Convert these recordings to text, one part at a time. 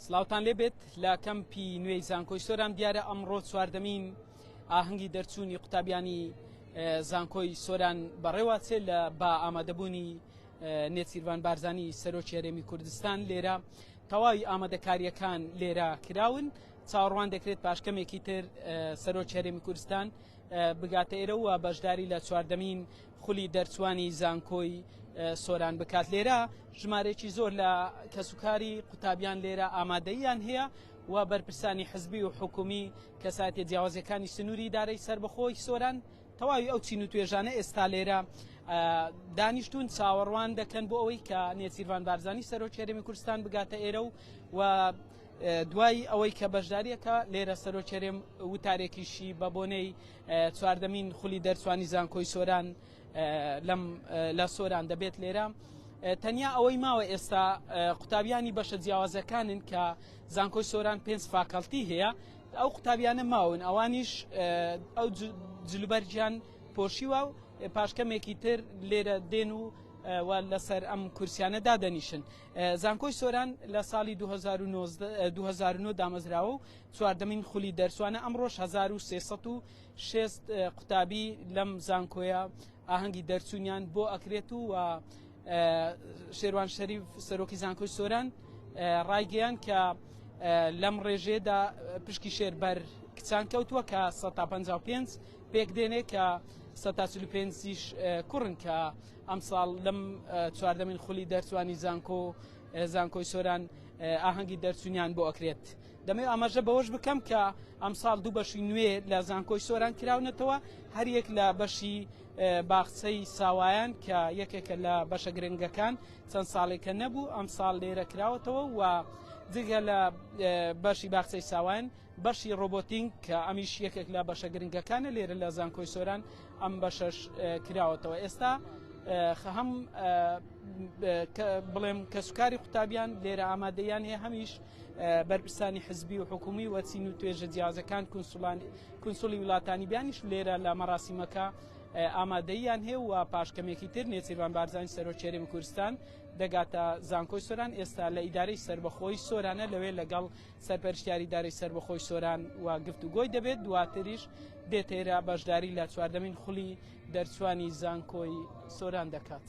سلااوان لێبێت لە کەمپی نوێی زانکۆی سۆران دیارە ئەمڕۆ چواردەمین ئاهەنگی دەرچوونی قوتابیانی زانکۆی سۆران بەڕێواتێ لە با ئامادەبوونی نێچیرڤان بارزانانی سەرۆکی هەرێمی کوردستان لێرە تەواوی ئامادەکاریەکان لێرە کراون چاڕوان دەکرێت پاشکەمێکی تر سەرۆکی هەرێمی کوردستان بگاتە ئێرە و بەشداری لە چواردەمین خولی دەرچوانی زانکۆی سۆران بکات لێرە ژمارەیەکی زۆر لە کەسوکاری قوتابیان لێرە ئامادەیان هەیە و بەرپرسانی حزبی و حکومی کەسایەتی جیاوازەکانی سنووری دارەی سربەخۆی سۆران تەواوی ئەو چین و توێژانە ئێستا لێرە دانیشتون چاوەڕوان دەکەن بۆ ئەوەی کە نێچیرڤان بارزانانی سەرۆکی هەرێمی کوردستان بگاتە ئێرە و دوای ئەوەی کە بەشداریەکە لێرە سەرۆکێرێم وتارێکیشی بە بۆنەی چواردەمین خولی دەرچوانی زانکۆی سۆران لەم لە سۆران دەبێت لێرە تەنیا ئەوەی ماوە ئێستا قوتابیانی بەشە جیاوازەکانن کە زانکۆی سۆران پێنج فاکەڵتی هەیە ئەو قوتابیانە ماون ئەوانیش ئەو جلوبەرجیان پۆشیوە و پاشکەمێکی تر لێرە دێن و و لەسەر ئەم کورسیانە دادەنیشن زانکۆی سۆران لە ساڵی 2009 دامەزراوە و چواردەمین خولی دەرچوانە ئەمڕۆش هەزار و سێ سەد و شێست قوتابی لەم زانکۆیە ئاهەنگی دەرچوونیان بۆ ئەکرێت و و شێروان شەریف سەرۆکی زانکۆی سۆران ڕایگەیان کە لەم ڕێژێدا پشکی شێر بەر کچان کەوتووە کە 155 پێک دێنێ کە 145 کوڕن کە ئەمساڵ لەم چواردەمین خولی دەرچوانی زانکۆ زانکۆی سۆران ئاهەنگی دەرچوونیان بۆ ئەکرێت. دەمەوێت ئاماژە بەوەش بکەم کە ئەمساڵ دوو بەشی نوێ لە زانکۆی سۆران کراونەتەوە هەریەک لە بەشی باخچەی ساوایان کە یەکێکە لە بەشە گرنگەکان چەند ساڵێکە نەبوو ئەم ساڵ لێرە کراوەتەوە و جگە لە بەشی باخچەی ساوان بەشی ڕۆبۆتینگ کە ئەمیش یەکێک لە بەشە گرنگەکانە لێرە لە زانکۆی سۆران ئەم بەشەش کراوەتەوە ئێستا هەم بڵێم کەسوکاری قوتابیان لێرە ئامادەیان هەیە هەمیش بەرپرسانی حزبی و حکومی و چین و توێژە جیازەکان کونسولی وڵاتانی بیانیش لێرە لە مەراسیمەکە ئامادەیان هەیە و پاشکەمێکی تر نێچیربان بارزانانی سەرۆکێرێمی کوردستان دەگاتە زانکۆی سۆران ئێستا لە ئیدارەی سربەخۆی سۆرانە لەوێ لەگەڵ سەرپەرشتیاری دارەی سربەخۆی سۆران و گفت و گۆی دەبێت دواتریش دێتێرا بەشداری لە چواردەمین خولی دەرچوانی زانکۆی سۆران دەکات.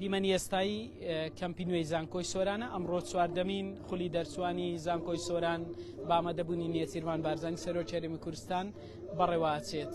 دیمەنی ئێستایی کەمپی نوێی زانکۆی سۆرانە ئەمڕۆ چواردەمین خولی دەرچوانی زانکۆی سۆران بامەدەبوونی نێچیرمان بارزانانی سەرۆکی هەرێمی کوردستان بەڕێوەچێت.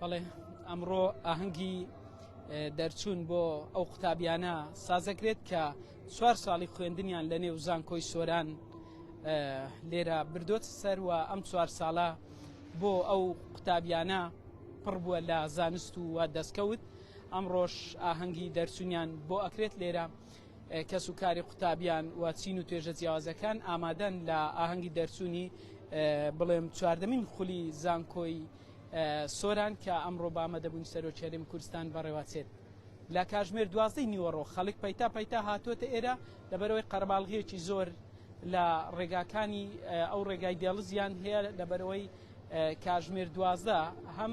بەڵێ ئەمڕۆ ئاهەنگی دەرچوون بۆ ئەو قوتابیانە سازەکرێت کە چوار ساڵی خوێندنیان لە نێو زانکۆی سۆران لێرە بردۆت سەر و ئەم چوار ساڵە بۆ ئەو قوتابیانە پڕ بووە لە زانست و دەستکەوت ئەمڕۆش ئاهەنگی دەرچونیان بۆ ئەکرێت لێرە کەس و کاری قوتابیان و چین و توێژە جیاوازەکان ئامادەن لە ئاهەنگی دەرچوونی بڵێم چواردەمین خولی زانکۆی سۆران کە ئەمڕۆ بامە دەبوون سەرۆکی هەرێمی کوردستان بەڕێوەچێت لە کاژمێر دوازدەی نیوەڕۆ خەڵک پەیتا پەیتا هاتووەتە ئێرە لەبەرەوەی قەرەباڵغیەکی زۆر لە ڕێگاکانی ئەو ڕێگای دێڵزیان هەیە لەبەرەوەی کاژمێر دوازدە هەم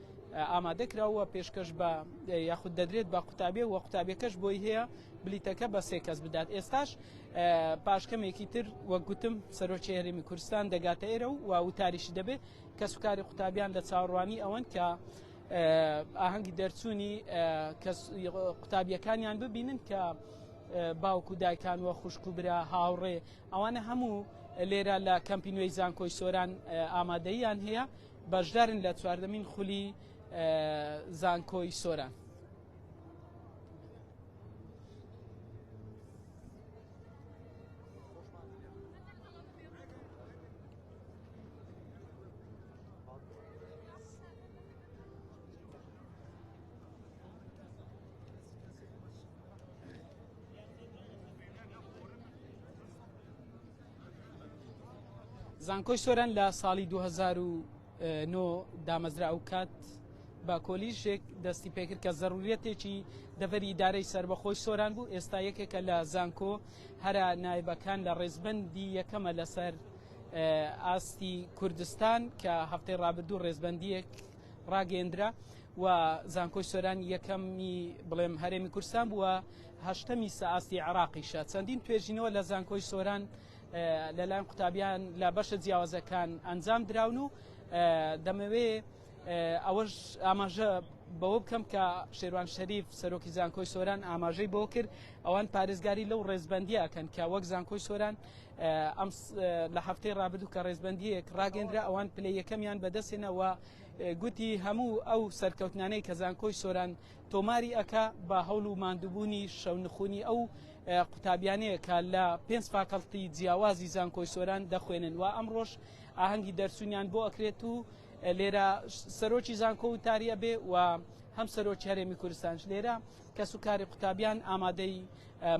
ئامادە کراو و پێشکەش بە یاخود دەدرێت بە قوتابێ و قوتابەکەش بۆی هەیە بلیتەکە بە سێ کەس بدات ئێستاش پاشکەمێکی تر وەک گوتم سەرۆکی هەرمی کوردستان دەگاتە ئێرە و و وتاریشی دەبێت کەس و کاری قوتابیان لە چاڕوانی ئەوەن کە ئاهەنگی دەرچوونی قوتابیەکانیان ببینن کە باوک و دایکان وە خوشک و برا هاوڕێ ئەوانە هەموو لێرە لە کەمپینوی زانکۆی سۆران ئامادەیان هەیە بەشدارن لە چواردەمین خولی زانکۆی سۆران. زانکۆی سۆران لە ساڵی 2009 دامەزرا ئەو کات بە کۆلیژێک دەستی پێکرد کە زەڕوریەتێکی دەبەری ئیدارەی سربەخۆی سۆران بوو ئێستا یەکێکە لە زانکۆ هەرا نایبەکان لە ڕێزبندی یەکەمە لەسەر ئاستی کوردستان کە هەفتەی ڕابردوو ڕێزبندیەک ڕاگەندرا و زانکۆی سۆران یەکەمی بڵێم هەرێمی کورسان بووە هەشتەمی سەئاستی عێراقیشە. چەندین توێژینەوە لە زانکۆی سۆران لەلایەن قوتابیان لە بەشە جیاوازەکان ئەنجام دراون و دەمەوێ ئەوەش ئاماژە بەوە بکەم کە شێروان شەریف سەرۆکی زانکۆی سۆران ئاماژەی بۆ کرد ئەوان پارێزگاری لەو ڕێزبندیەکەن کە وەک زانکۆی سۆران ئەم لە هەفتەی ڕابردوو کە ڕێزبندیەک ڕاگەندرا ئەوان پلە یەکەمیان بەدەستێنەوە گوتی هەموو ئەو سەرکەوتنانەی کە زانکۆی سۆران تۆماری ئەکا بە هەوڵ و ماندووبوونی شەونخونی ئەو قوتابیانەیە کە لە پێنج فاکەڵتی جیاوازی زانکۆی سۆران دەخوێنن و ئەمڕۆش ئاهەنگی دەرچوونیان بۆ ئەکرێت و لێرە سەرۆکی زانکۆ و تاریە بێ و هەم سەرۆکی هەرێمی کوردستانش لێرە کەس و کاری قوتابیان ئامادەی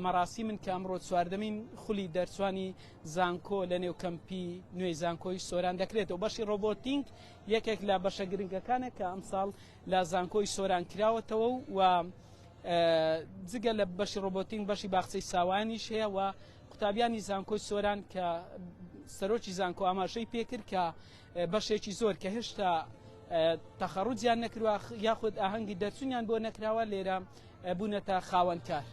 مەراسی من کە ئەمڕۆ چواردەمین خولی دەرچوانی زانکۆ لە نێو کەمپی نوێی زانکۆی سۆران دەکرێتەوە بەشی ڕۆبۆتینگ یەکێک لە بەشە گرنگەکانە کە ئەمساڵ لە زانکۆی سۆران کراوەتەوە و جگە لە بەشی ڕۆبۆتین بەشی باخچەی ساوانیش هەیە و قوتابیانی زانکۆی سۆران کە سەرۆکی زانکۆ ئاماژەی پێکرد کە بەشێکی زۆر کە هێشتا تەخەڕوجیان نەکروا یاخود ئاهەنگی دەرچوونیان بۆ نەکراوە لێرە بوونەتە خاوەنکار.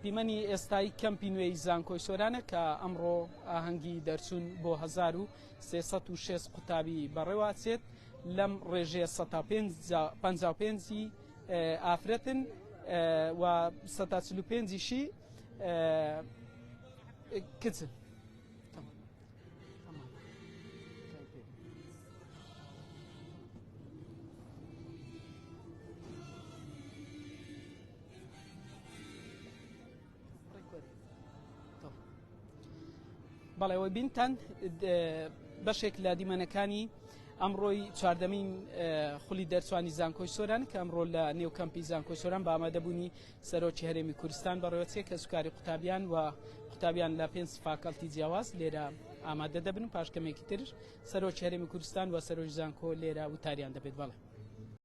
دیمەنی ئێستای کەمپی نوێی زانکۆی سۆرانە کە ئەمڕۆ ئاهەنگی دەرچوون بۆ 1306 قوتابی بەڕێواچێت لەم ڕێژەیە 55 ئافرەتن و 145شی کچن. بەڵێەوە بینتان بەشێک لە دیمەنەکانی ئەمڕۆی چواردەمین خولی دەرچوانی زانکۆی سۆران کە ئەمڕۆ لە نێو کەمپی زانکۆی سۆران بامەدەبوونی سەرۆکی هەرێمی کورستان بەڕێوەچێ کەسوکاری قوتابیان و قوتابیان لە پێنج فاکەڵتی جیاواز لێرە ئامادە دەبن و پاشکەمێکی تر سەرۆکی هەرێمی کوردستان و سەرۆک زانکۆ لێرە وتاریان دەبێت بەڵێ.